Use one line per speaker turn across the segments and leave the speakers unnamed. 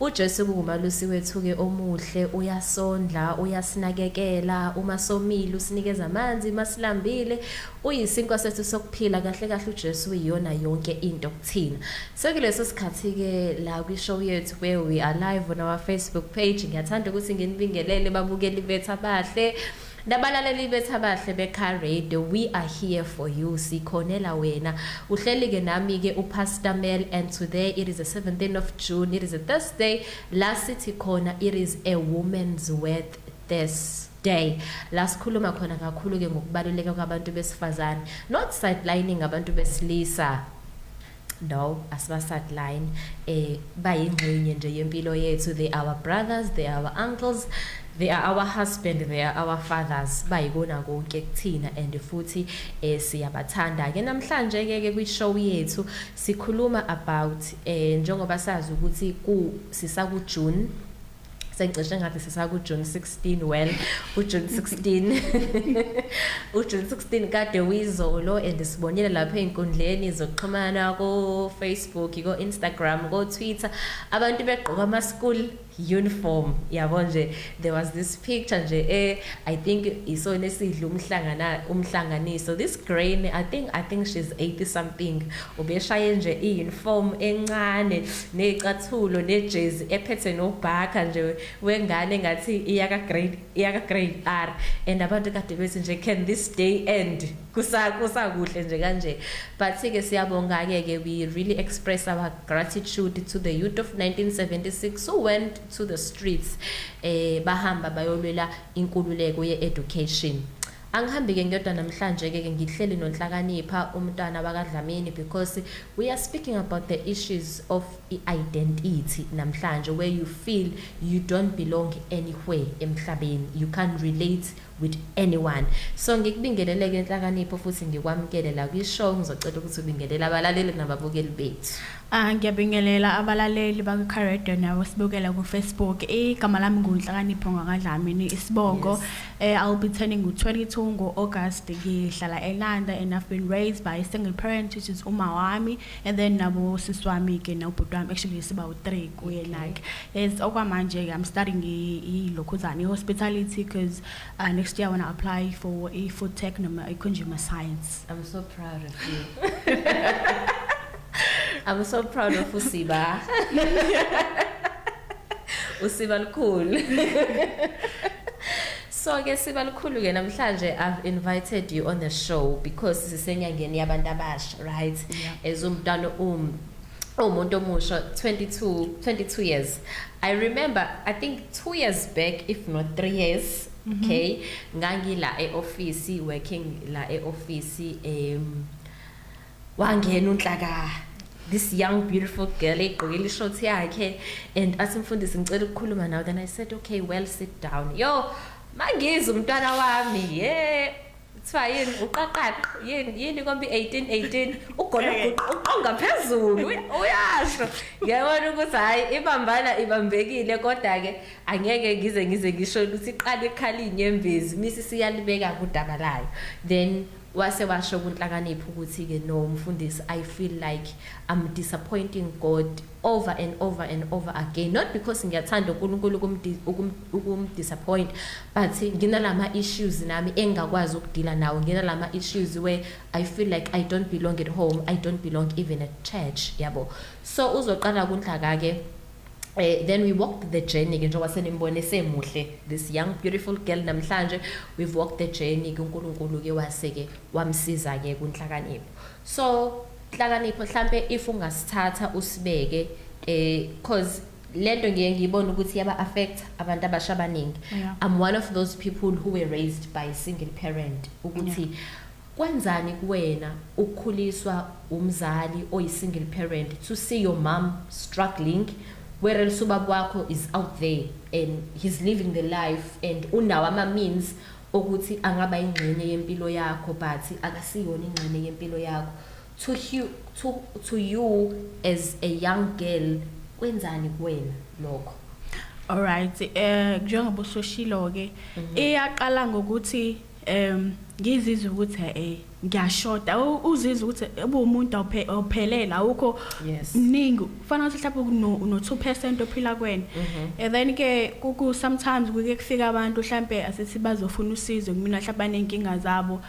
UJesu kungumalusi wethu-ke omuhle, uyasondla, uyasinakekela, uma somile usinikeza amanzi, uma silambile uyisinkwa sethu sokuphila, kahle kahle uJesu uyiyona yonke into kuthina. Sekuleso sikhathi-ke la kwi-show yethu where we are live on our Facebook page, ngiyathanda ukuthi nginibingelele babukeli bethu abahle. Nabalaleli bethu abahle beCar Radio we are here for you sikhonela wena uhleli ke nami ke uPastor Mel and today it is the 17th of June it is a Thursday la sithi khona it is a woman's worth this day la sikhuluma khona kakhulu ke ngokubaluleka kwabantu besifazane not sidelining abantu besilisa No, asibasideline. Eh bayingxenye nje yempilo yethu. They are our brothers, they are our uncles. they are our husband they are our fathers bayikona konke kuthina and futhi eh siyabathanda ke namhlanje ke ke kwi show yethu sikhuluma about eh njengoba sazi ukuthi ku sisa ku June sengicishe ngathi sisakujune 16 well ujune 16 ujune 16 kade uyizolo and sibonile lapha ey'nkundleni zokuxhumana ko-facebook ko-instagram ko-twitter abantu begqoka ama-school uniform yabo nje there was this picture nje eh i think isona esidla umhlangana umhlanganiso this grain i think i think she's 80 something Ubeshaye nje i-uniform encane nezicathulo nejezi ephethe nobhakha nje wengane ngathi iyaka grade iyaka grade R and abantu kade bethi nje can this day end kusa kusakuhle nje kanje but ke siyabonga ke ke we really express our gratitude to the youth of 1976 who went to the streets eh bahamba bayolwela inkululeko ye education Angihambi ke ngiyodwa namhlanje ke ngihleli noNhlakanipha umntwana bakaDlamini because we are speaking about the issues of identity namhlanje where you feel you don't belong anywhere emhlabeni you can't relate with anyone so ngikubingelele ke Nhlakanipho futhi ngikwamukele la kwi show ngizocela ukuthi ubingelele abalaleli nababukeli bethu Ah ngiyabingelela
abalaleli baka Carredo nawe sibukela ku Facebook. Igama lami nguNhlakanipho ngakadlamini isibongo. Eh I'll be turning u 22 ngo August ngihlala eLanda and I've been raised by a single parent which is uma wami and then nabo sisi wami ke nobhuti wami actually siba u 3 kuye like. Yes okwamanje ke I'm studying i lokhuzane hospitality because uh, next year I want to apply for a food tech noma a consumer science. I'm so
proud of you. I'm so proud of Usiba. Usiba lukhulu. So ke siba lukhulu ke namhlanje I've invited you on the show because sisenyangeni yabantu abasha right yeah. as umntana um umuntu omusha 22 22 years I remember I think 2 years back if not 3 years Mhm. okay ngangila eoffice working la eoffice um wangena unhlaka this young beautiful girl egqokile ishort yakhe and athi mfundisi ngicela ukukhuluma nawe then i said okay well sit down yo mangizwe umntwana wami ye kuthiwa yini uqaqaqo yini yini kombi 1818 ugologuqa uqonga phezulu uyasho ngiyabona ukuthi hhayi ibambana ibambekile kodwa-ke angeke ngize ngize ngisho ukuthi iqala ikhala iy'nyembezi misi siyalibeka kudaba layo then wase washo kunhlakaniphi ukuthi-ke no mfundisi i feel like i'm disappointing god over and over and over again not because ngiyathanda uNkulunkulu ukumdisappoint but nginalama issues nami engakwazi ukudila nawo nginalama issues where i feel like i don't belong at home i don't belong even at church yabo so uzoqala kunhlaka ke Uh, then we walked the journey ke njengoba senimbone semuhle this young beautiful girl namhlanje we've walked the journey kuNkulunkulu ke waseke wamsiza ke kunhlakanipho So Nhlakanipho hlampe if ungasithatha usibeke eh cause lento ngiye ngiyibona ukuthi yaba affect abantu abasha abaningi Yeah. i'm one of those people who were raised by a single parent ukuthi kwenzani kuwena ukukhuliswa umzali oyi single parent to see your mom struggling where else ubaba wakho is out there and he's living the life and unawo ama means ukuthi angaba ingxenye yempilo yakho but akasiyona ingxenye yempilo yakho to you, to, to you as a young girl kwenzani kuwena lokho alright
eh njengoba usoshilo ke mhm. iyaqala ngokuthi em ngizizwe ukuthi hey ngiyashoda uzizwa ukuthi ubumuntu awuphelele awukho mningi kufanele ukuthi mhlawumbe uno-two percent ophila kwena mhm. and then ke sometimes kuke kufika abantu mhlawumbe asithi bazofuna usizo kumina mhlawumbe baney'nkinga zabo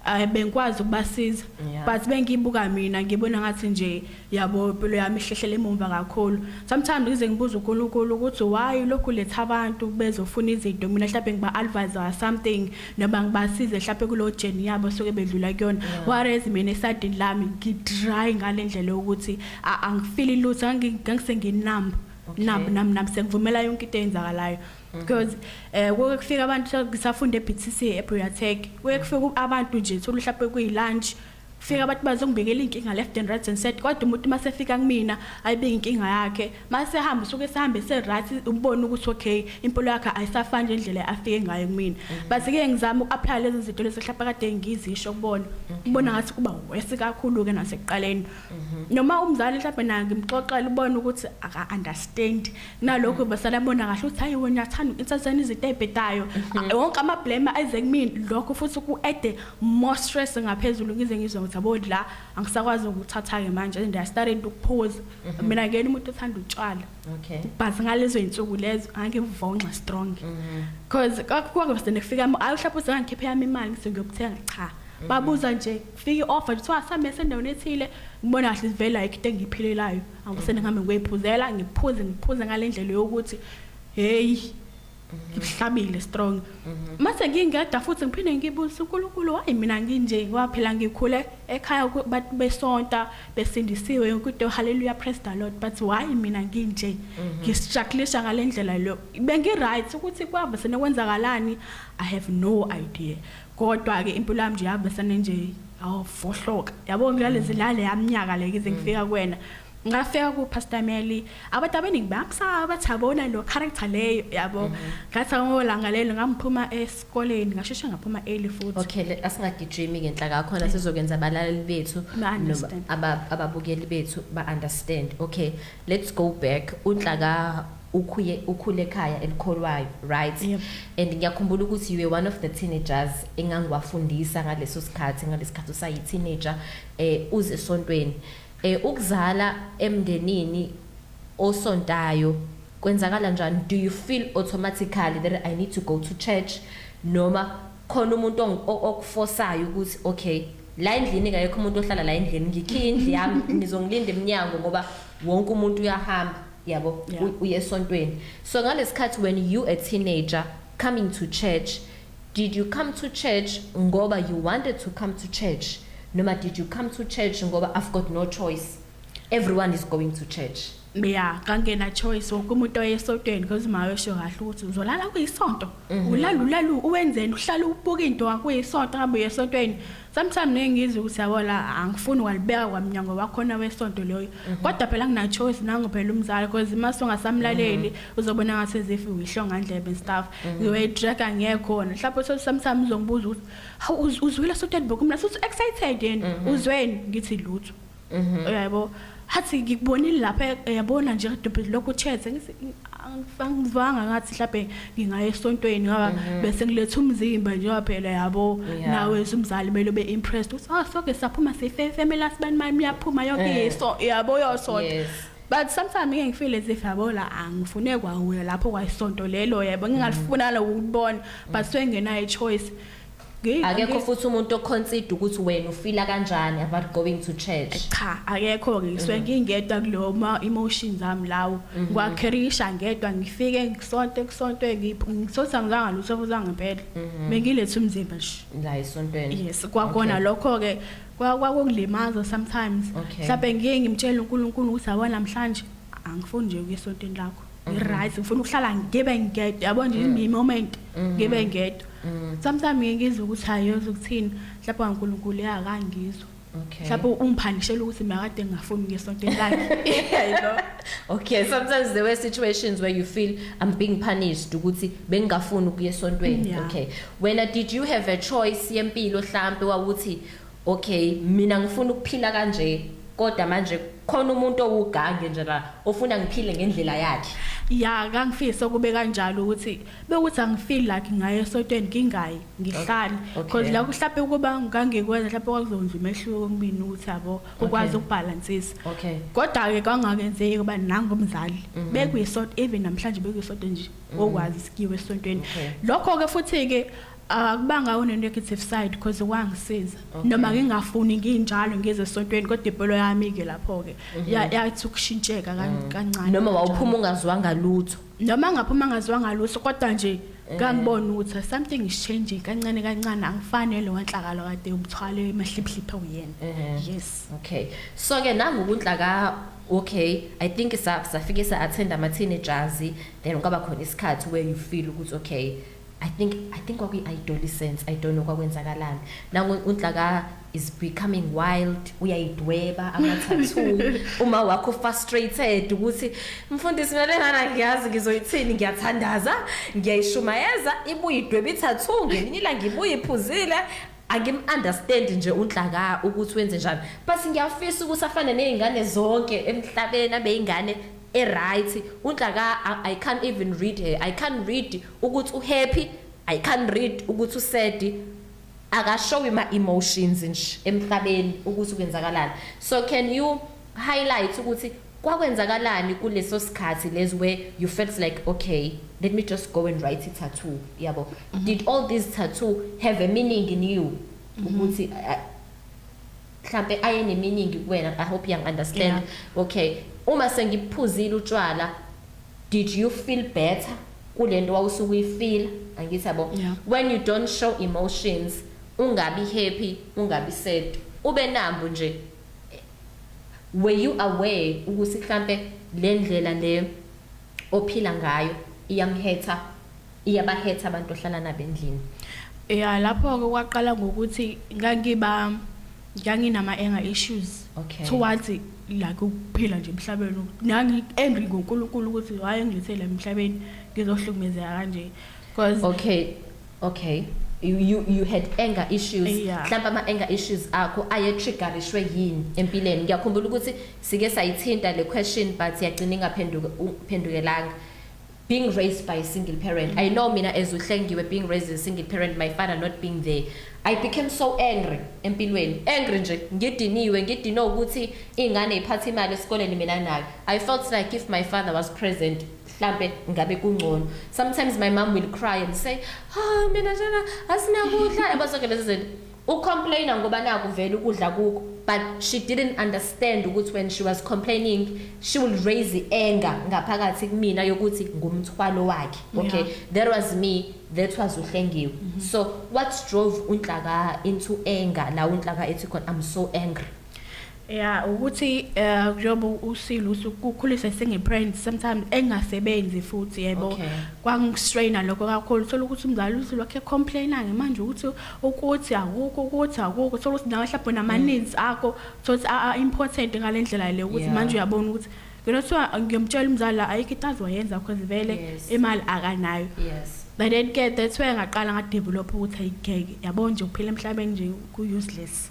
um bengikwazi ukubasiza but bengiyibuka mina ngibona ngathi nje Yabo impilo yami ihlehlela emumva kakhulu. Sometimes ngize ngibuze uNkulunkulu ukuthi why lokhu letha abantu bezofuna izinto mina mhlawumbe ngiba advise or something noma ngibasize mhlawumbe kulo journey yabo soke bedlula kuyona. Whereas mina esadini lami ngidry ngalendlela yokuthi angifili lutho ngangise nginumb nabo nami nami sengivumela yonke into eyenzakalayo mhm. because eh kuke kufika abantu ngisafunda eBTC eBriatech kuye kufika abantu nje thola mhlawumbe kuyilunch fika abantu bazongibikela inkinga left and right and said kodwa umuntu masefika kumina ayibike inkinga yakhe masehamba usuke sehambe se right ubone ukuthi okay impilo yakhe ayisafani nje indlela afike ngayo kumina mm. bathi ke ngizama ukuapply lezi zinto lezi hlapha kade ngizisho kubona ubona ngathi kuba worse kakhulu ke nasekuqaleni mm-hmm. noma umzali mhlawumbe naye ngimxoxela ubona ukuthi aka understand nalokho basala bona kahle ukuthi hayi wena uyathanda insasana izinto ezibhedayo mhm. ah, wonke ama blame ayeze kumina lokho futhi ku add more stress ngaphezulu ngize ngizwe ukuthi abo la angisakwazi ukuthatha ke manje and I started ukuphuza mhm. mina ngeke umuntu othanda utshwala okay but ngalezo insuku lezo angivonxa strong mhm. because kwakuke bese nifika ayi uhlapha usengikhiphe yami imali ngise ngiyokuthenga cha babuza nje fika i-offer kuthiwa samese endaweni ethile ngibona kahle ivela ikho into engiyiphilelayo angisene ngihambe ngiyoyiphuzela ngiphuze ngiphuze ngale ndlela yokuthi heyi ngihlabile strong mhm. mase ngingeda futhi ngiphinde ngibuze uNkulunkulu wayi mina nginje waphela ngikhule ekhaya abantu besonta besindisiwe yonke into haleluya praise the lord but why mina nginje mhm. ngistrugglisha ngalendlela lo bengi right ukuthi kwavese nekwenzakalani i have no idea kodwa ke impilo yami nje yabe sane nje awufohloka yabo ngiyalezi lale yamnyaka le kize ngifika kuwena ngafika ku Pastor Meli abantu abaningi bamsaba bathabona lo character leyo yabo mhm. ngathi ngolanga lelo ngamphuma esikoleni ngasheshe ngaphuma early futhi okay asingagijimi
ngenhla kakho na sizokwenza abalaleli bethu ababukeli bethu ba understand okay let's go back unhlaka ukhuye ukhule ekhaya elikholwayo right yep. and ngiyakhumbula ukuthi you were one of the teenagers engangiwafundisa ngaleso sikhathi ngalesikhathi usayi teenager eh uze esontweni eh ukuzala emndenini osontayo kwenzakala njani do you feel automatically that i need to go to church noma khona umuntu okufosayo ukuthi okay la endlini ngayekho umuntu ohlala la endlini ngikhe indlu yami ngizongilinda eminyango ngoba wonke umuntu uyahamba yabo Yeah. u- uye esontweni so ngalesikhathi when you a teenager coming to church did you come to church ngoba you wanted to come to church noma did you come to church ngoba i've got no choice everyone is going to church ya kangena
choice wonke umuntu oyesotweni because uma wesho kahle ukuthi uzolala kuyisonto ulala ulalu uwenzeni uhlala ubuka into wakuyisonto abuye esotweni sometimes ngeke ngizwe ukuthi yabo la angifuni walibeka kwamnyango wakhona wesonto loyo mhm. kodwa phela ngina choice nangu phela umzali because uma songasamlaleli mhm. uzobona ngathi as if uyihlonga ndlebe stuff mhm. ngiwe drag angekhona mhlawumbe so sometimes uzongibuza ukuthi hawu uzwile so dadbok mina so excited yini uzweni ngithi lutho Mhm. uyaybo hathi ngikubonile lapha eh, yabona nje kadobhe lokhu chethe ngithi "Angif- angivanga ngathi mhlawumbe ngingaya esontweni ngoba bese ngiletha umzimba njengoba phela yabo Mhm. Yeah. nawe umzali kumele ube impressed uthi oh soke saphuma sifefemela sibani mani miyaphuma yonke Eh. yeso yabo yosonto Yes. but sometimes ngeke ngifile as if yabo la angifune kwawuya lapho kwayisonto lelo yebo ngingalifuna lokubona but sengenayo choice Ngi- akekho
ngi- futhi umuntu oconsider ukuthi wena ufila kanjani about going to church cha akekho
ngisuke ngingedwa kulowo ma emotions ami lawo ngwakherisha ngedwa ngifike ngisonto kusonto ngiphi ngisosa ngizanga lutho futhi ngempela bengilethe umzimba nje la esontweni yes
kwakona Okay. lokho
ke kwa- kwakukulimaza sometimes Okay. mhlawumbe ngiye ngimtshele uNkulunkulu ukuthi awona namhlanje angifuni nje ukuya esontweni lakho right ngifuna ukuhlala ngibe ngedwa yabo nje mm. moment mm. ngibe ngedwa mm. sometimes ngeke ngizwe ukuthi hayoze ukuthini mhlawumbe uNkulunkulu yakangizwa Okay. Mhlawumbe ungiphanishela ukuthi makade ngingafuni ngesonto lakhe. Yebo. Okay,
sometimes there were situations where you feel I'm being punished ukuthi bengingafuni ukuya esontweni. Okay. Wena did you have a choice yempilo mhlambe wawuthi Okay mina ngifuna ukuphila kanje kodwa manje khona umuntu owugange nje la ofuna ngiphile ngendlela yakhe ya kangifisa
ukube kanjalo ukuthi bekuthi angifeel like ngaye esotweni ngingayi ngihlale because la kuhlape ukuba ngangikwenza mhlawumbe kwakuzonza umehluko kumina ukuthi yabo ukwazi ukubhalansisa kodwa ke kwangakenzeki kuba nangu umzali mhm. bekuyisonto even namhlanje bekuyisonto nje mhm. okwazi sikiwe esontweni lokho ke futhi ke akubanga uh, une-negative side because wangisiza okay. noma ngingafuni nginjalo ngize esontweni kodwa ibholo yami-ke lapho-ke mm -hmm. yathi ukushintsheka kan, mm. kancane noma wawuphuma
ungaziwanga lutho noma ngaphuma
ngaziwanga lutho kodwa nje eh. ngangibona ukuthi something is changing kancane kancane angifanele wanhlakalo kade umthwale emahliphliphhe uyena eh. yes okay so ke
nangokunhla ka okay i think safike sa attend ama teenagers then kwaba khona isikhathi where you feel ukuthi okay I think I think kwakuyi adolescence I don't know kwakwenzakalani nangu unhlaka is becoming wild uyayidweba amathathu uma wakho frustrated ukuthi mfundisi mina lengana ngiyazi ngizoyithini ngiyathandaza ngiyayishumayeza ibuyidweba ithathu ngelinye ilanga ibuyiphuzile angimunderstand nje unhlaka ukuthi wenze njani but ngiyafisa ukuthi afane nezingane zonke emhlabeni abeyingane e right unhla ka I can't even read her I can't read ukuthi u happy I can't read ukuthi u sad akashowi ma emotions nje emhlabeni ukuthi kwenzakalani so can you highlight ukuthi kwakwenzakalani kuleso sikhathi les where you felt like okay let me just go and write it tattoo yabo mm -hmm. did all these tattoo have a meaning in you mm-hmm. ukuthi mm -hmm. uh, mhlampe ayeneminingi kuwena i hope yang understand yeah. okay uma sengiphuzile utshwala did you feel better kulento wawusuke uyifeel angithi yabo yeah. when you don't show emotions ungabi happy ungabi sad ube nambu nje were you aware ukuthi mhlambe lendlela le ophila ngayo iyamhetha Iyabahetha abantu ohlala nabo endlini. Ya lapho-ke
kwaqala ngokuthi ngangiba nganginama-anger issues Okay. towards like ukuphila nje emhlabeni ukuthi nangi-angry ngonkulunkulu ukuthi why engilethele la emhlabeni ngizohlukumezeka kanje because Okay. Okay.
You, you, you had anger issues Yeah. mhlawumbe ama-anger
issues
akho ayetriggerishwe yini empilweni ngiyakhumbula ukuthi sike sayithinta le question but yagcina ingaphenduke- uphendukelanga being raised by a single parent i know mina as uhlengiwe being raised as a single parent my father not being there i became so angry empilweni angry nje ngidiniwe ngidinwe ukuthi ingane iphatha imali esikoleni mina nayo i felt like if my father was present mhlambe ngabe kungcono sometimes my mom will cry and say ha oh, mina njena asinakudla yabazonke lezi zinto U complainer ngoba naku vele ukudla kukho but she didn't understand ukuthi when she was complaining she will raise the anger ngaphakathi kumina yokuthi ngumthwalo wakhe okay yeah. that was me that was uhlengiwe mm -hmm. so what drove unhlaka into anger la unhlaka ethi khona i'm so angry Yeah,
ukuthi eh njengoba usile usukukhulisa singeparents sometimes engasebenzi futhi yebo Okay. kwangistraina lokho kakhulu thola ukuthi umzali uthi lokho ecomplaina ke manje ukuthi ukuthi akukho ukuthi akukho thola ukuthi nawe mhlawumbe namaninzi akho thola ukuthi a- a- important ngalendlela le ukuthi Yeah. manje uyabona ukuthi ngelo kuthiwa ngiyomtshela umzali la ayikho into azoyenza because vele Yes. imali akanayo Yes. but then ke that's why ngaqala ngadevelop ukuthi ayigeke yabona nje ukuphila emhlabeni nje ku-useless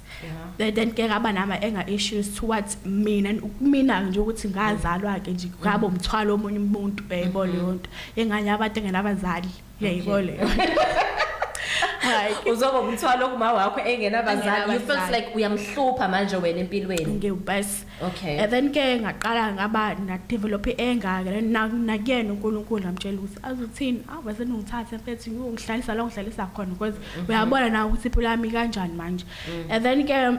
yeah. then ke ngaba nama anger issues towards mina kumina nje ukuthi ngazalwa ke nje ngabo mm. mthwalo omunye umuntu yayibona mm-hmm. leyo nto enganye abantu engenabazali yayibona leyo hayi
uzoba umthwalo kuma wakho engenabazali you feels like uyamhlupha manje wena empilweni ngiyubase
okay and then ke
ngaqala
ngaba na develop anger ke nakuyena uNkulunkulu ngamtshela ukuthi azothini ave senungithathe mfethu uyongihlalisa la ngihlalisa khona because mhm. uyabona na ukuthi impilo yami kanjani manje mm. and then ke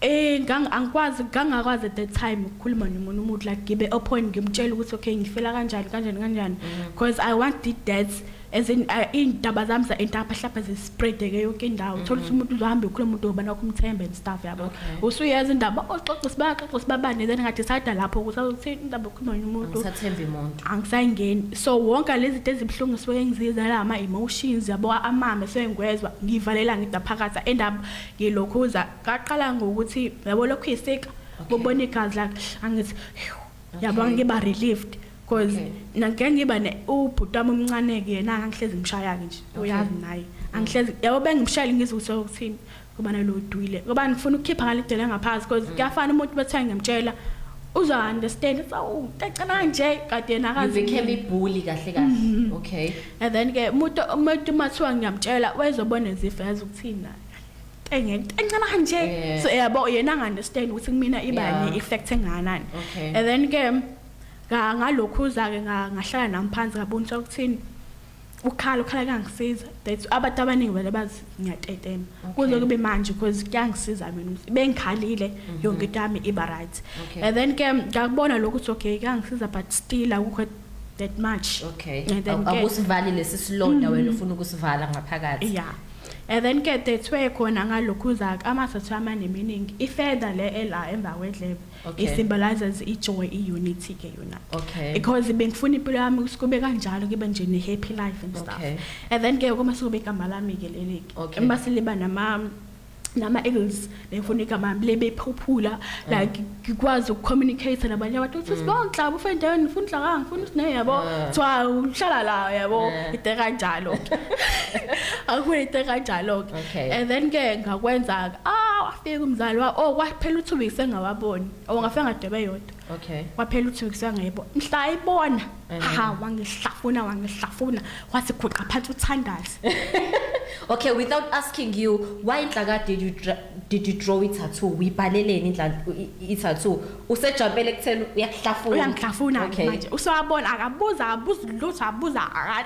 eh angikwazi ngangakwazi at that time ukukhuluma nomuntu umuntu like ngibe open ngimtshela ukuthi okay ngifela kanjani kanjani kanjani mm. because i want the death as in uh, iy'ndaba zami za-entapha hlapha zispreadeke yonke indawo mm-hmm. thola ukuthi umuntu uzohambe ukhuluma umuntu ngoba nakho umthembe and stuff yabo usuyazi indaba oxoxa oh, sibaxoxa sibabane then ngathi sada lapho ukuthi awuthini indaba okhuluma nje umuntu angisathembi muntu
angisayingeni so
wonke lezi zinto ezibuhlungu suke ngizizala ama-emotions yabo amame suke ngiwezwa ngivalela ngida phakathi and up ngilokhuza kaqala ngokuthi yabo lokhu yisika bobona igazi lakhe angithi yabo ngiba relieved cause Okay. nangike ngiba ne ubhuti wami omncane-ke yena angihlezi ngimshaya-ke nje Okay. uyazi naye angihlezi yabo bengimshayile ngizwe ukuthi okuthini ngoba nalo udwile ngoba ngifuna ukukhipha ngale dela ngaphansi Mm. cause kuyafana umuntu bethe ngimtshela uza understand ukuthi awu cacana nje kade yena You akazi became a bully kahle
kahle. Okay. and then ke
umuntu umuntu mathiwa ngiyamtshela wayezobona ezifo yazi ukuthini naye engeke encane nje Yeah. so yabo yena angi understand ukuthi kumina ibani Yeah. effect enganani Okay. and then ke Nga- ngalokhuza-ke nga- ngahlala nami phansi ngabona ukuthi akuthini ukhala ukhala kuyangisiza that abantu abaningi vele bazi ngiyatetema kuze kube manje because kuyangisiza mina ukuthi bengikhalile yonke into yami iba right Mhm. Okay. and then ke ngakubona lokhu ukuthi okay kuyangisiza but still akukho that much okay And then Awu- ke- awusivali
lesi silonda wena ufuna ukusivala ngaphakathi ya and then
ke dethwe khona ngalokhu uzaka amasotho amaneminingi ifeda le ela emva kwedlebe Okay. It symbolizes ijoy, i-unity ke yona. Okay. Because bengifuna impilo yami ukuthi kube kanjalo kube nje ne happy life and stuff. Okay. And then ke uma sobe igama lami ke leli. Okay. Uma siliba nama nama ills bengifuna igama lebe phuphula mm. like ngikwazi ukucommunicate nabanye abantu uthi mm. sibonhla ufe endaweni ngifuna inhla ka ngifuna usine yabo ah. kuthiwa uhlala la yabo ah. ite kanjalo akwete kanjalo ke Okay. And then ke ngakwenza ah wafika umzali wa oh kwaphela u2 weeks engawaboni. Oh ngafika ngadebe yodwa. Okay. Kwaphela u2 weeks angayibona. Mhla ayibona Eh. ha wangihlafuna wangihlafuna wathi guqa phansi uthandazi. Okay,
without asking you, why inhlaka did you dra- did you draw it tattoo? Uyibhaleleni inhlaka i tattoo? Usejampele kuthena uyakuhlafuna. Uyangihlafuna
Okay. manje. Usewabona akabuza abuza lutho abuza aka-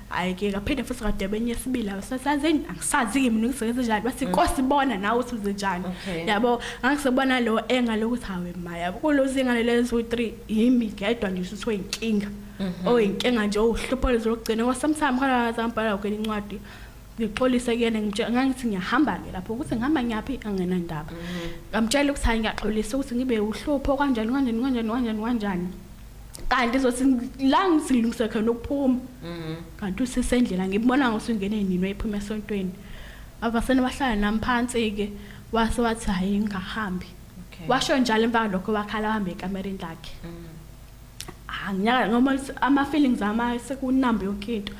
hayi ke kaphinde futhi kadebe enye esibili awusasazini angisazi kimi ngisebenza njani bathi mm. kosi bona nawe uthi uze njani yabo angisebona lo enga lokuthi hawe maya kulozi ingane lezo 3 yimi ngedwa nje usuthi oyinkinga mhm. oyinkinga nje uhlupho lezokugcina kwasamsami khona zambhala ukwenye incwadi ngixolise kuyena ngitshela ngangithi ngiyahamba ke lapho ukuthi ngihamba ngiyaphi angena ndaba mhm. ngamtshela ukuthi hayi ngiyaxolisa ukuthi ngibe uhlupho kanjani kanjani kanjani kanjani kanjani kanti zothi la ngizilungise khona ukuphuma mhm. kanti usisendlela ngibona ngosungene nini wayephuma esontweni abasene bahlala nami phansi ke wase wathi hayi ngingahambi washo njalo emva lokho wakhala wahamba ekamereni lakhe mhm. anginyaka ah, ngoba ama feelings ama sekunamba yonke into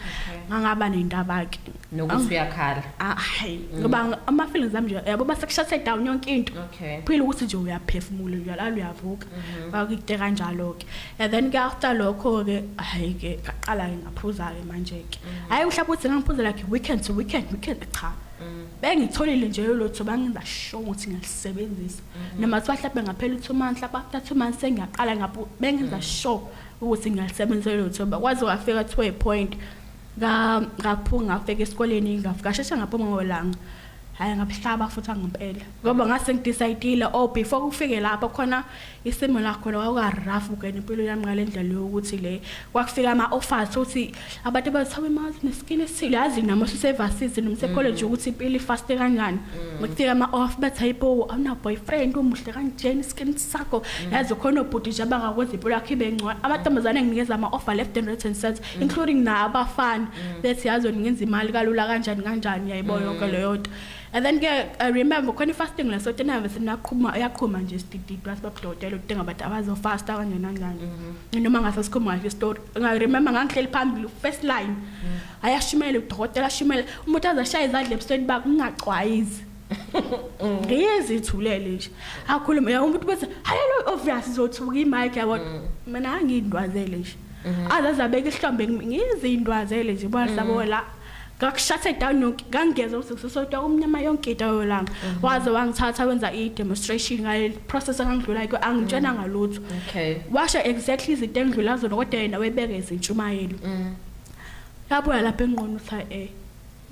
ngangaba nendaba ke nokuthi uyakhala
ah, hayi mm. ngoba
ama feelings ami nje yabo base kushathe down yonke into okay phela ukuthi nje uyaphefumula uyalala uyavuka mhm. bakuyite kanjalo ke and then ke after lokho ke hayi ke ngaqala ke ngaphuza ke manje ke mhm. hayi uhlapha ukuthi ngiphuzela ke weekend to weekend weekend cha mm. bengitholile nje lolotho bangenza sho ukuthi ngilisebenzisa mhm. noma kuthiwa mhlawumbe ngaphela u-two months lapho after two months sengiyaqala bengenza mm. sure ukuthi ngiyalisebenzisa lolotho bakwazi wafika to a point ngaphunga ngafika esikoleni ngasheshe ngaphuma ngolanga hayi ngabuhlaba futhi angempela ngoba ngase ngidecide oh before kufike lapho khona isimo lakho lokukarough ukena impilo yami ngale ndlela yokuthi le kwakufika ama offers uthi abantu abathawa imali neskin esile yazi nami usevasizi noma secollege mm. ukuthi impilo ifast kanjani mm. ngifika ama off bathi hayibo awuna boyfriend umuhle kanjena iskin sakho mm. yazi khona ubhuti nje abangakwenza impilo yakhe ibe ngcono amantombazane nginikeza ama offer left and right and center Mm. including na abafana mm. that yazi ngenza imali kalula kanjani kanjani yayibo mm. yonke leyo nto and then ke i remember khona ifasting leso tenave sinaqhuma yaqhuma nje sidididwa sibabudodela ukuthi ngabantu abazofasta kanjani kanjani mm-hmm. noma ngase sikhuluma nje story nga remember ngangihleli phambili first line ayashimela udokotela ashimela umuntu azashaya izandla ebusweni bakungaxwayizi ngiyezi ithulele nje akhulume ya umuntu bese hayelo obvious izothuka imic yabo mm. mina angindwazele nje mm-hmm. azaze abeke ihlombe ngizindwazele nje bwasabo mm. la ngakushathe down yonke ngangeza ukuthi kusesodwa umnyama yonke into yolanga mm-hmm. waze wangithatha wenza i-demonstration ngale process engangidlula kyo angitshena mm. ngalutho okay washo exactly izinto engidlula zona kodwa yena webeke izintshumayelo mm. lapho lapha enqono utha eh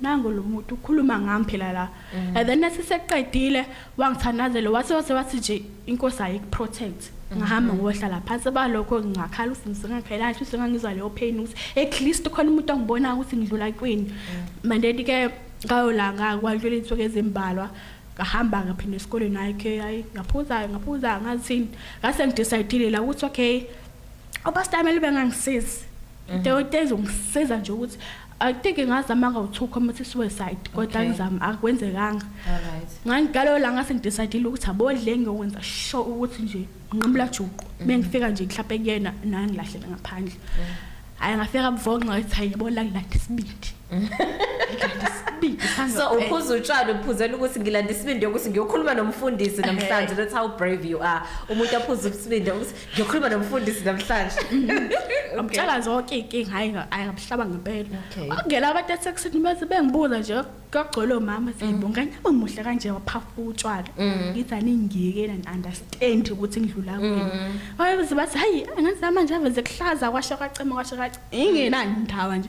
nangu lo muntu ukhuluma ngami phela la mm. and then nasiseqedile wangithandazela wase wase wathi nje inkosi ayikuprotect mm-hmm. ngahamba ngohlala phansi balokho ngingakhala ukuthi ngisengakhala ukuthi sengangizwa leyo pain ukuthi at least khona umuntu ongibona ukuthi ngidlula kwini mm. mandeni ke ngayo la ngakwadlula insuku ezimbalwa ngahamba ngaphinde esikoleni hayi ke hayi ngaphuza ngaphuza ngathini ngase ngidecidile la ukuthi okay obastameli bengangisizi into mm-hmm. ezongisiza nje ukuthi I think ngazama ngo to commit suicide kodwa ngizama akwenzekanga. Alright. Ngangigalo la ngase ngidecidile ukuthi abodle ngiyokwenza sure ukuthi nje nqimula juqu. Mhm. Bengifika nje mhlawumbe kuyena nangilahlela ngaphandle. Hayi ngafika buvonqa ngathi hayi yabo la ngilanda isibindi.
so uphuza utshwala uphuzela ukuthi ngilanda isibindi yokuthi ngiyokhuluma nomfundisi namhlanje that's how brave you are umuntu aphuza isibindi ukuthi ngiyokhuluma nomfundisi namhlanje amtshela
zonke iy'nkinga hhayi nga- hhayi ngamhlaba ngempela Okay. okungela abantu esekusini bese bengibuza nje kuyogcola omama Mm. seyibo nganyama muhle kanje waphafa utshwala ngithi aningiyeke and understand ukuthi ngidlula Mm. kwini wayebeze bathi hhayi angazi manje aveze kuhlaza kwasho kacema kwasho kace ingenandaba nje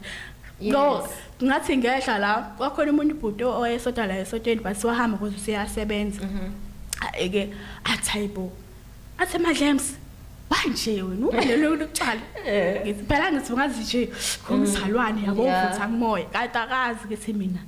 no Yes. ngathi ngehla la kwakhona umuntu ubhuti owayesota la esotweni but wahamba kuze useyasebenza Mm-hmm. ake athayibo Athe Madlems banje wena uba lelo lokuqala eh. ngithi phela ngithi ungazi nje ngumzalwane yabo uvutha kumoya kanti akazi ukuthi mina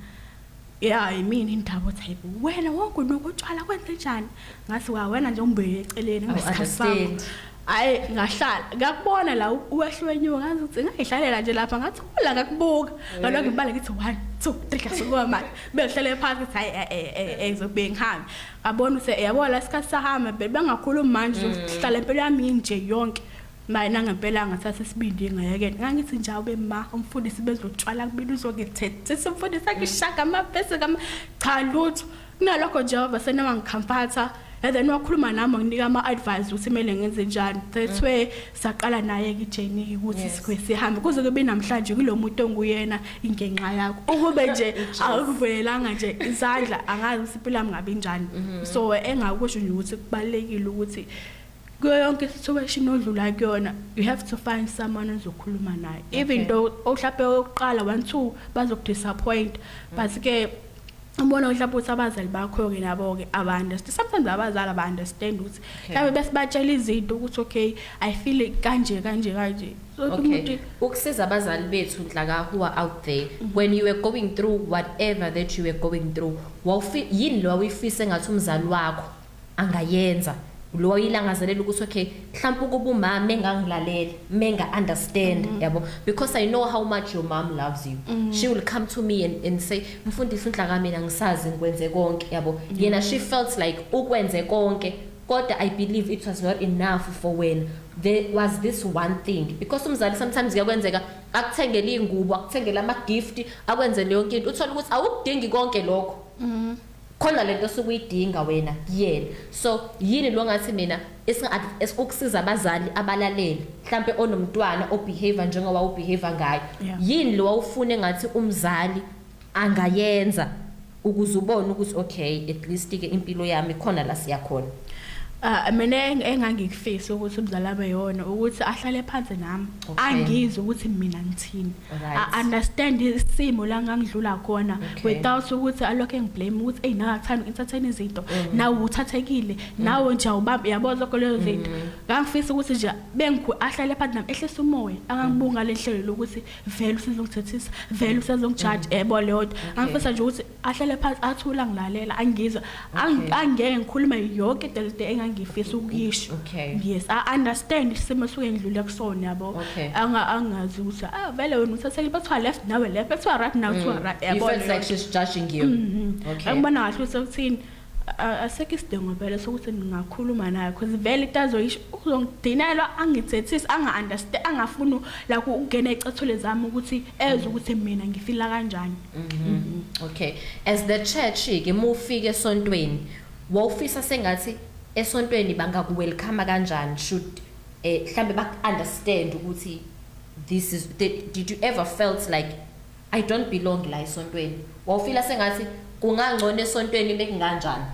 ya yimini indaba othi hayibo wena wonke nokutshwala kwenze njani ngathi wa wena nje umbeke eceleni ngesikhathi sami hayi ngahlala ngakubona la uwehlwenyiwe ngazi ukuthi ngayihlalela nje lapha ngathi kula ngakubuka eh. ngaloko ngibale ngithi 1 2 3 ngasuka manje behlele phansi ukuthi hayi eh eh, eh, eh ngizobhengihambe abona ukuthi yabo la sikhathi sahamba vele bangakhulumi manje uzohlala impilo yami inje yonke manje nangempela ngathatha isibindi ngayekela ngangithi nje awube ma umfundisi bezotshwala kubili uzongithethisa umfundisi akishaka amapesi kama cha lutho kunalokho nje wava senoma ngikhampatha and then wakhuluma nami wanginika ama-advice ukuthi kumele ngenze njani that's where saqala naye ke journey ukuthi yes. sikwe sihambe kuze kube namhlanje kulomuntu onguyena ingenxa yakho ukube nje akuvelanga nje izandla angazi siphila ngabe njani mm -hmm. so engakusho nje ukuthi kubalekile ukuthi kuyo yonke situation odlula kuyona you have to find someone ozokhuluma naye even though ohlape oqala 1 2 bazokudisappoint but ke ubona ukuthi lapho ukuthi abazali bakho-ke nabo-ke aba-understand sometimes abazali aba-understand ukuthi mhlawumbe besibatshela izinto ukuthi okay i feel kanje kanje kanje okay
ukusiza abazali bethu nhlaka who are out there mhm. when you were going through whatever that you were going through yini lo wawuyifise ngathi umzali wakho angayenza lo wayilangazelela ukuthi okay mhlawumbe ukuba umama mengangilalela menga understand mm -hmm. yabo because i know how much your mom loves you mm -hmm. she will come to me and, and say mfundisi inhlaka mina ngisazi ngikwenze konke yabo mm -hmm. yena she felt like ukwenze konke kodwa i believe it was not enough for wena there was this one thing because umzali sometimes kuyakwenzeka akuthengele ingubo akuthengele ama gift akwenzele yonke into uthola ukuthi awukudingi konke lokho mm -hmm. khona lento osuke uyidinga wena kuyena so yini lo ngathi mina ukusiza abazali abalaleli mhlampe onomntwana obehavior njengoba ubehavior ngayo yini lo wawufune ngathi umzali angayenza ukuze ubone ukuthi okay at least ke impilo yami khona la siya khona Ah mina
engangikufisa ukuthi umzali abe yona ukuthi ahlale phansi nami angizwe ukuthi mina ngithini Right. I understand isimo la ngangidlula khona okay. without ukuthi alokho engiblame ukuthi hey nawe akuthanda entertain izinto mm. nawe uthathekile mm. nawe nje awubambi yabo zonke lezo mm. zinto mm. ngangifisa ukuthi nje bengikhulu ahlale phansi nami ehlisa umoya angangibunga mm. lenhlelo lokuthi vele usizongithethisa vele usezongijudge mm. ebo leyo okay. angifisa nje ukuthi ahlale phansi athula ngilalela angizwa angeke ngikhulume yonke into lento engangifisa ukuyisho yes i understand isimo suke ngidlule kusona yabo anga angazi ukuthi ah vele wena uthathele bathiwa left nawe left bathiwa right nawe kuthiwa mm. right yabo you feel like she's
judging you mm-hmm. okay angibona kahle ukuthi
ukuthini asekho isidingo vele sokuthi ngingakhuluma naye because vele into azoyisho uzongidinelwa angithethise anga-understand angafuni la ukungena ecathule zami ukuthi ezwe ukuthi mina ngifila kanjani mhm. okay
as the church-ke uma ufika esontweni wawufisa sengathi esontweni bangakuwelcome kanjani should eh mhlambe baku-understand ukuthi this is did you ever felt like I don't belong la esontweni. Wawufila sengathi kungangcono esontweni bekunganjani?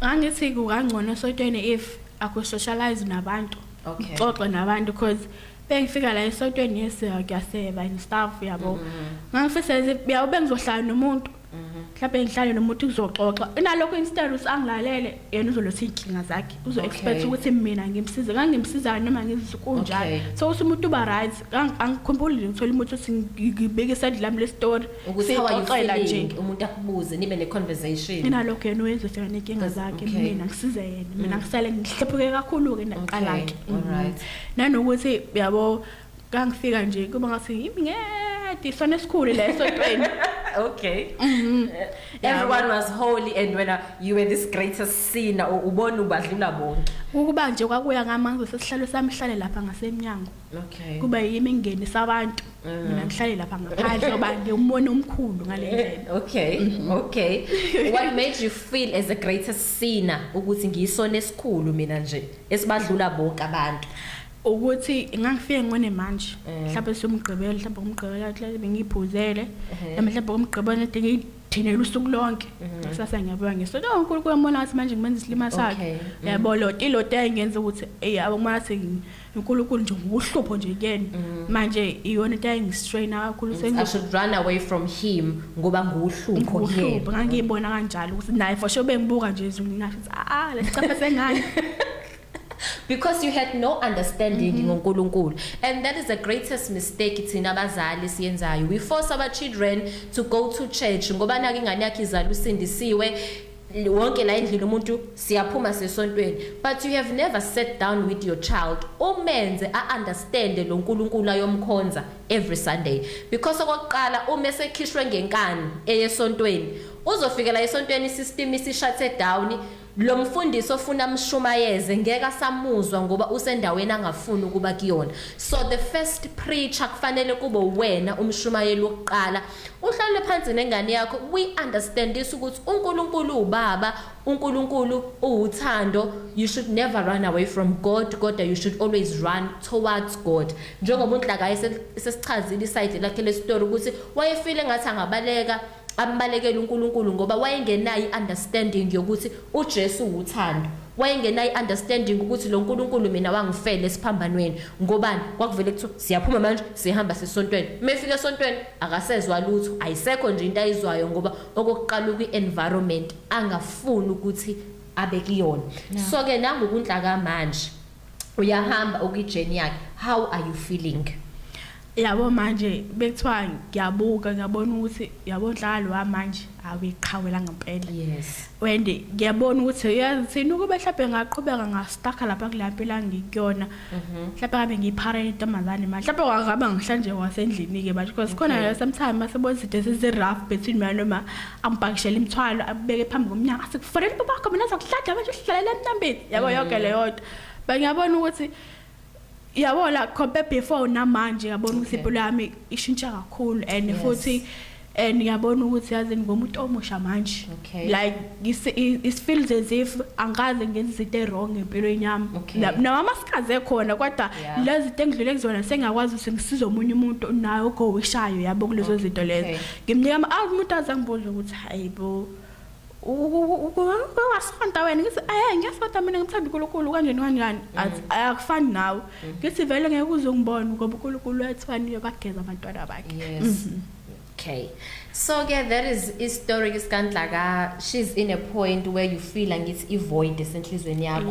Ngangithi kungangcono esontweni if aku socialize nabantu. Okay. Xoxe nabantu because bengifika la esontweni yes ngiyaseba and stuff yabo. Mm-hmm. Ngangifisa nje uyabe bengizohlala nomuntu. mhlawumbe ngihlale nomuntu kuzoxoxa inalokho instead usangilalele yena uzoletha iy'nkinga zakhe uzo-expect Okay. ukuthi mina ngimsize ngangimsizayo noma ngizikunjalo Okay. so uthi umuntu uba right Ang- angikhumbuli nje ngithole umuntu othi ngi- ngibeke isandla lami lesitori ukuthi how are you sixoxela
nje feeling umuntu akubuze nibe ne-conversation inalokho yena uyenza ufika
ney'nkinga Cause- zakhe okay. Mm. mina ngisize yena mina ngisale ngihlephuke kakhulu-ke Okay, naqala-ke Mhm. alright. nanokuthi yabo Ngangifika nje kuba ngathi yimi ngedi sona esikhulu leso ntweni. Okay.
Mhm. Everyone was holy and when uh, you were this greatest sinner u- ubona ubadlula bonke. Ukuba nje kwakuya
ngamanzi sesihlalo sami hlale lapha ngasemnyango. Okay. Kuba yimi ngenisa abantu. Mina ngihlale lapha ngaphandle ngoba ngiwumona omkhulu ngale ndlela.
Okay, okay. What made you feel as the greatest sinner ukuthi ngiyisona esikhulu mina nje esibadlula bonke abantu? ukuthi
ngangifike ngone manje eh. mhlawumbe somgqibelo mhlawumbe ngomgqibelo mhlawumbe bengiyiphuzele eh. mhlawumbe ngomgqibelo nade ngiyithinele usuku lonke eh. kusasa ngiyabuya ngesonto unkulunkulu wambona ngathi manje ngimenza isilima sakhe mm. yabo loti loti ayingenza ukuthi eyi abo uma ngathi unkulunkulu nje nguhlupho nje kuyena mm. manje iyona into ayingistraina kakhulu i should run away
from him ngoba nguhlupho nguhlupho ngangiyibona
kanjalo ukuthi naye for sure bengibuka nje izulu ngingasho ukuthi a ah, ah, lesicafe sengane
because you had no understanding mm -hmm. ngoNkulunkulu and that is the greatest mistake thina abazali siyenzayo we force our children to go to church ngoba nake ingane yakhe izala usindisiwe wonke la endlini umuntu siyaphuma sesontweni but you have never sat down with your child umenze a-understande lo nkulunkulu ayomkhonza every sunday because okokuqala uma esekhishwe ngenkani eyesontweni uzofikela esontweni isystem isishathe down Lomfundisi ofuna amshumayeze ngeke asamuzwa ngoba usendaweni angafuni ukuba kuyona. So the first preacher kufanele kube uwena umshumayeli wokuqala. Uhlalele phansi nengane yakho we understand this ukuthi uNkulunkulu ubaba, uNkulunkulu uwuthando. You should never run away from God kodwa you should always run towards God. Njengoba uNhlakayi sesichazile iside lakhe lesitori ukuthi wayefile ngathi angabaleka ambalekele uNkulunkulu ngoba wayengenayo i-understanding yokuthi uJesu wuthando wayengenayo i-understanding ukuthi lo nkulunkulu mina wangifela esiphambanweni ngobani kwakuvele kuthiwa siyaphuma manje sihamba sesontweni uma efika esontweni akasezwa lutho ayisekho nje into ayizwayo ngoba okokuqala ukwi-environment angafuni ukuthi abe kuyona so-ke nangokunhlaka manje uyahamba ukwi journey yakhe how are you feeling yabo
manje bekuthiwa ngiyabuka ngiyabona ukuthi yabo nhlalo wamanje awiqhawela ngempela yes and
ngiyabona
ukuthi uyazithini ukube mhlawumbe ngaqhubeka ngastaka lapha kulampela ngikuyona mhm. mhlawumbe ngabe ngiyipharela intombazane manje mhlawumbe wangaba ngihlanje wasendlini-ke manje because khona sometimes masebona izinto ezizi-rough between mina noma ambhakishele imthwalo abeke phambi komnyango athi kufanele babakho mina zakuhlaja manje uhlalela emnambeni yabo mm. yonke leyo nto bengiyabona ukuthi yabo la compare before namanje yabona ukuthi impilo yami ishintsha kakhulu and futhi and ngiyabona ukuthi yazi ngomuntu omusha manje okay. like it feels as if angaze ngenza izinto ewrong empilweni yami okay. nawama sikaze khona kodwa yeah. lezi zinto engidlule kuzona sengiyakwazi ukuthi ngisize omunye umuntu naye ogowishayo yabo kulezo okay. zinto lezo okay. Ngimnika ama album umuntu azangibuza ukuthi hayibo wasonta wena ngithi eh ngiyasonta mina ngithanda uNkulunkulu kanjani kanjani mm. akufani nawe mm. ngithi vele ngeke uze ungibone ngoba uNkulunkulu wethwani uyobageza abantwana bakhe yes mm-hmm.
okay so ke that is i story isikandla ka she's in a point where you feel ngithi i void esenhlizweni yakho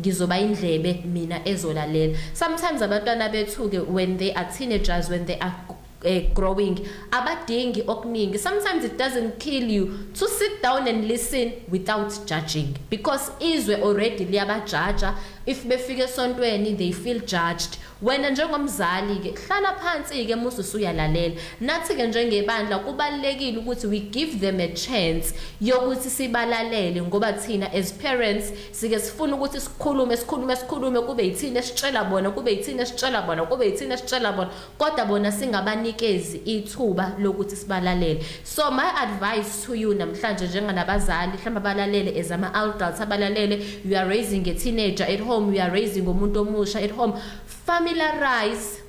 ngizoba indlebe mina ezolalela sometimes abantwana bethuke when they are teenagers when they are uh, growing abadingi okuningi sometimes it doesn't kill you to sit down and listen without judging because izwe already liyabajaja if befike esontweni they feel judged wena njengomzali ke hlala phansi ke musu suyalalela nathi ke njengebandla kubalekile ukuthi we give them a chance yokuthi sibalalele ngoba thina as parents sike sifuna ukuthi sikhulume sikhulume sikhulume kube yithini esitshela bona kube yithini esitshela bona kube yithini esitshela bona kodwa bona singabanikezi ithuba lokuthi sibalalele so my advice to you namhlanje njenganabazali mhlawumbe abalalele as ama adults abalalele you are raising a teenager at home you are raising umuntu omusha at home familiarize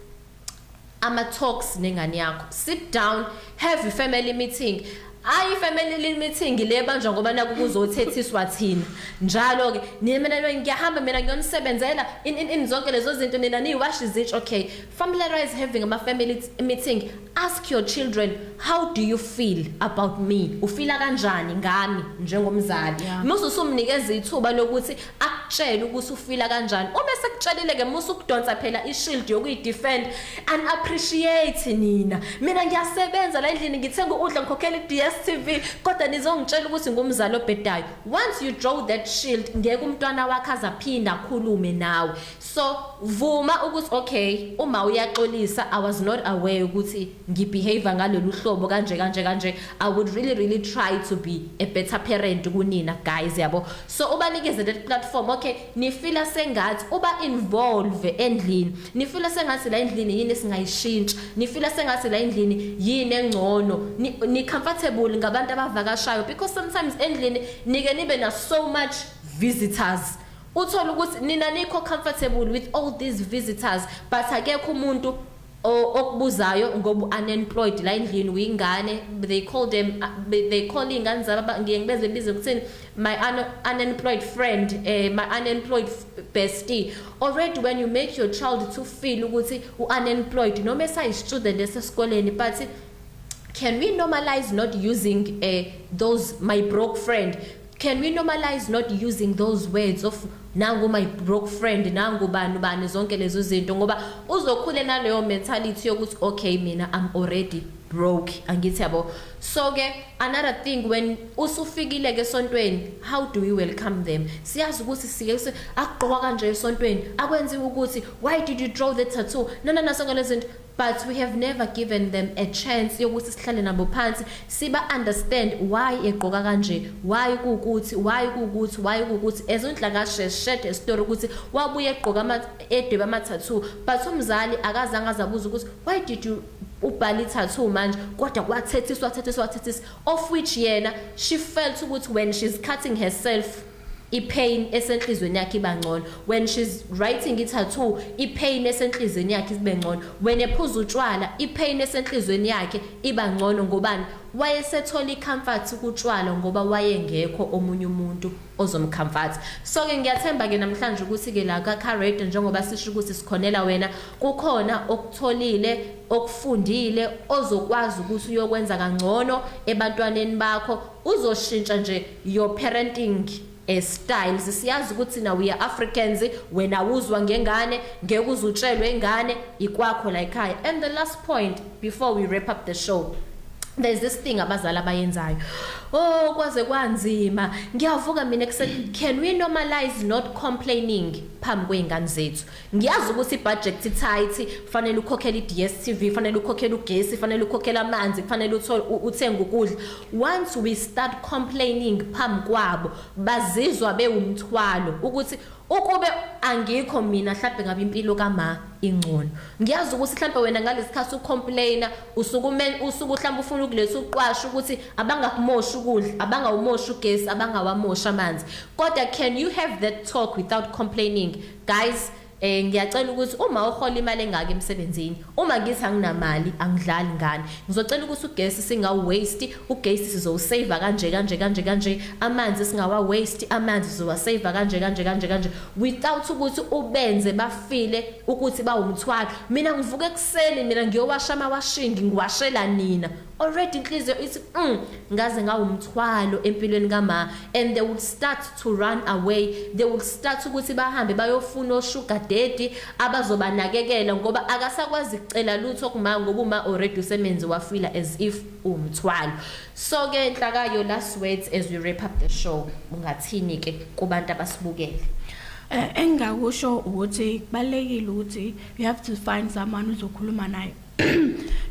ama talks nengane yakho sit down have a family meeting hayi family meeting le banjwa ngoba naku kuzothethiswa thina njalo ke nina ngiyahamba mina ngiyonisebenzela in in zonke lezo zinto nina ni wash izitsh okay familiarize having ama family meeting ask your children how do you feel about me ufila kanjani ngami njengomzali musu sumnikeza ithuba lokuthi akutshele ukuthi ufila kanjani uma sekutshelile ke musa ukudonsa phela ishield yokuyidefend and appreciate nina mina ngiyasebenza la endlini ngithenga ukudla ngikhokhela iDStv kodwa nizongitshela ukuthi ngumzali obhedayo once you draw that shield ngeke umntwana wakhe azaphinda akhulume nawe so vuma ukuthi okay uma uyaxolisa i was not aware ukuthi ngibehave ngalolu hlobo kanje kanje kanje i would really really try to be a better parent kunina guys yabo so ubanikeze that platform okay nifila sengathi uba involve endlini nifila sengathi la endlini yini singayishintsha nifila sengathi la endlini yini engcono ni comfortable ngabantu abavakashayo because sometimes endlini nike nibe na so much visitors uthola ukuthi nina nikho comfortable with all these visitors but akekho umuntu O okubuzayo ngobu unemployed la endlini wingane they call them uh, they call ingane zaba ngiye ngibeze bize kuthini my un unemployed friend eh my unemployed bestie already when you make your child to feel ukuthi u unemployed noma esayi student esesikoleni but can we normalize not using eh those my broke friend Can we normalize not using those words of nangu my broke friend nangu bani bani zonke lezo zinto ngoba uzokhule naleyo mentality yokuthi okay mina I'm already broke angithi yabo so ke another thing when usufikile ke sontweni how do we welcome them siyazi ukuthi sike kuse akugqoka kanje esontweni akwenziwe ukuthi why did you draw the tattoo nana naso ngalezinto but we have never given them a chance yokuthi sihlale nabo phansi siba understand why egqoka kanje why kukuthi why kukuthi why kukuthi ezondla kashe shed a story ukuthi wabuye egqoka ama edweba ama tattoo but umzali akazange azabuza ukuthi why did you ubhala ithathu manje kodwa kwathethiswa thathiswa thathiswa of which yena she felt ukuthi when she's cutting herself ipain esenhlizweni yakhe iba ngcono when she's writing i-tattoo ipain esenhlizweni yakhe ibe ngcono when ephuza utshwala ipain esenhlizweni yakhe iba ngcono ngobani wayesethola i-comfort kutshwala ngoba wayengekho omunye umuntu ozomcomforta so-ke ngiyathemba-ke namhlanje ukuthi-ke la kacarade njengoba sisho ukuthi sikhonela wena kukhona okutholile okufundile ozokwazi ukuthi uyokwenza kangcono ebantwaneni bakho Uzoshintsha nje your parenting eh, styles siyazi ukuthi na we are Africans wena wuzwa ngengane ngeke uzutshelwe ingane ikwakho la ekhaya and the last point before we wrap up the show there's this thing abazali abayenzayo oh kwaze kwanzima ngiyavuka mina ekuseni can we normalize not complaining phambi kweingane zethu Ngiyazi ukuthi ibudget tight, kufanele ukhokhele iDStv, kufanele ukhokhele ugesi, kufanele ukhokhele amanzi, kufanele uthole uthenge ukudla. Once we start complaining phambi kwabo, bazizwa bewumthwalo ukuthi ukube angikho mina mhlawumbe ngabe impilo kama ingcono ngiyazi ukuthi mhlawumbe wena ngalesikhathi ucomplaina usukume usuku mhlawumbe ufuna ukuletha uqwasha ukuthi abangakumoshi ukudla abangawumoshi ugesi abangawamoshi amanzi kodwa can you have that talk without complaining Guys eh ngiyacela ukuthi uma uhola imali engaka emsebenzini uma ngithi anginamali angidlali ngani ngizocela ukuthi ugesi singa waste ugesi sizowusave kanje kanje kanje kanje amanzi singawa waste amanzi sizowasave kanje kanje kanje kanje without ukuthi ubenze bafile ukuthi bawumthwalo mina ngivuka ekuseni mina ngiyowasha amawashingi ngiwashela nina already inhliziyo ithi mm, ngaze ngawumthwalo empilweni kama and they would start to run away they would start ukuthi bahambe bayofuna osugar daddy abazobanakekela ngoba akasakwazi kucela lutho kuma ngoba uma already usemenzi wafila as if umthwalo so ke inhlakayo last words as we wrap up the show ungathini ke kubantu abasibukele eh,
engakusho ukuthi kubalekile ukuthi you have to find someone uzokhuluma naye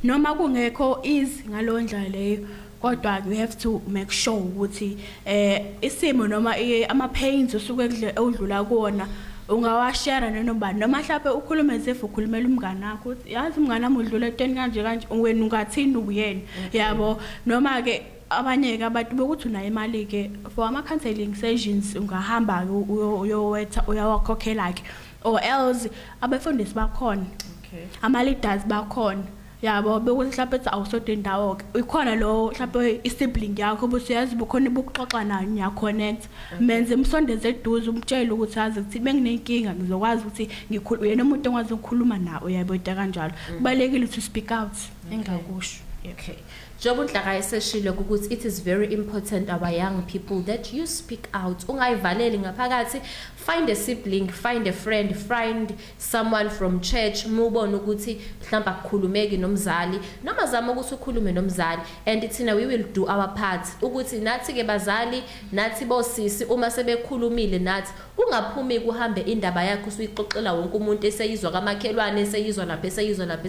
noma kungekho easy ngalo ndlela leyo kodwa you have to make sure ukuthi eh isimo noma ama pains usuke udlula kuona ungawashare nenobani noma mhlawumbe ukhulume as if ukhulumela umngane wakho uthi yazi umngane wami udlula etweni kanje kanje wena ungathini uyena yabo noma ke abanye ke abantu bokuthi unayo imali ke for ama counseling sessions ungahamba uyowetha uyawakhokhela ke or else abefundisi bakhona okay ama-leaders bakhona yabo bekuthi mhlawumpe ethi awusodwa indawo-ke ikhona lowo mhlawumpe i-sibling yakho ukuthi uyazi bukhona ibukuxoxa nayo niyakhonetha menze umsondeze eduze umtshele ukuthi azi ukuthi benginenkinga ngizokwazi ukuthi uyena umuntu engikwazi ukukhuluma nawo uyaboyita kanjalo mm. kubalulekile ukuthi u-speak out engakusho okay
njengoba unhlaka eseshilo ukuthi it is very important our young people that you speak out ungayivaleli ngaphakathi find a sibling find a friend find someone from church mubone ukuthi mhlawumbe akukhulumeki nomzali noma zama ukuthi ukhulume nomzali and thina we will do our part ukuthi nathi ke bazali nathi bosisi uma sebekhulumile nathi ungaphumi kuhambe indaba yakho usuyixoxela wonke umuntu eseyizwa kamakhelwane eseyizwa lapha eseyizwa lapha